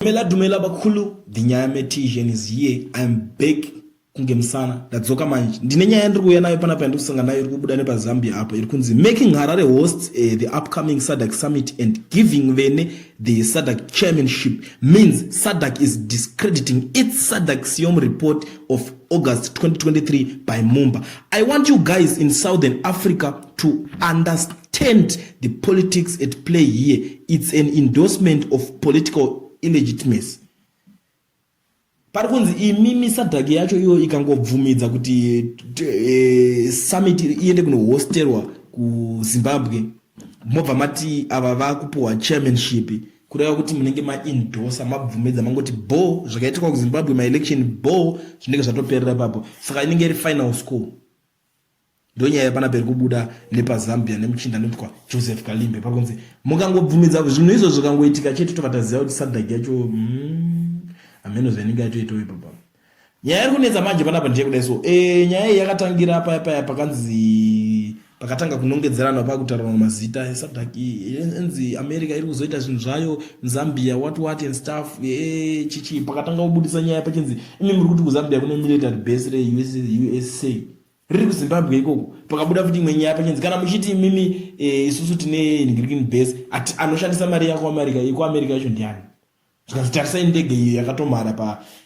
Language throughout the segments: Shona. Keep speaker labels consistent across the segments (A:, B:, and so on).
A: Dumela dumela bakhulu the nyaya metisian is here im back kunge musana ndadzoka manje ndine nyaya ndiri kuuya nayo panapa yandiri kusanga nayo iri kubuda nepazambia apo iri kunzi making harare hosts uh, the upcoming sadak summit and giving vene the sadak chairmanship means sadak is discrediting its sadak siom report of august 2023 by mumba i want you guys in southern africa to understand understand the politics at play here it's an endorsement of political illegitimacy pari kunzi imimi sadhak yacho iyo ikangobvumidza kuti e, summit iende kunohosterwa kuzimbabwe mobva mati ava vakupiwa chairmanship kureva kuti munenge maindosa mabvumidza mangoti bo zvakaitikwa kuzimbabwe maelection bo zvinenge zvatoperera ipapo saka inenge iri final school ndonyaya yepana peri kubuda nepazambia nemuchinda anoitwa joseph kalimbe pari kunzi mukangobvumidza zvinhu izvo zvikangoitika chete tobva taziva kuti sadak yacho mm, hameno zvainenge yatoitawo ipapa nyaya iri kunetsa manje panapa ndiye kudai so e, nyaya iyi yakatangira paya paya pakanzi pakatanga kunongedzerana pakutaurana mazita esadak enzi america iri kuzoita zvinhu zvayo zambia what what and stuff e, chichi pakatanga kubudisa nyaya pachinzi imi muri kuti kuzambia kune military base reusa riri kuzimbabwe ikoko pakabuda futi imwe nyaya pachinzi kana muchiti imimi eh, isusu tine ingrikin base ati anoshandisa mari yako america iko america yacho ndiani zvikanzi tarisai ndege iyo yakatomhara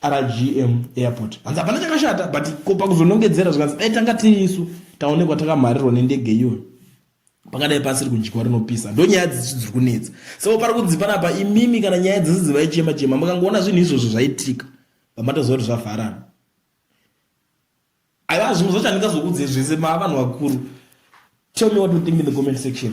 A: pargm airport hanzi hapana chakashata but ko pakuzonongedzera zvikanzi dai tanga tiri isu taonekwa takamharirwa nendege iyoyo pangadai pasiri kudyiwa rinopisa ndo nyaya dzisi dziri kunetsa saka pari kunzi panapa imimi kana nyaya dzisi dzivaichema chema makangoona zvinhu izvozvo zvaitika pamatoziva kuti zvavharana aiwa zvimwe zvacho handingazokuudzei zvese maa vanhu vakuru tell me what you think in the comment section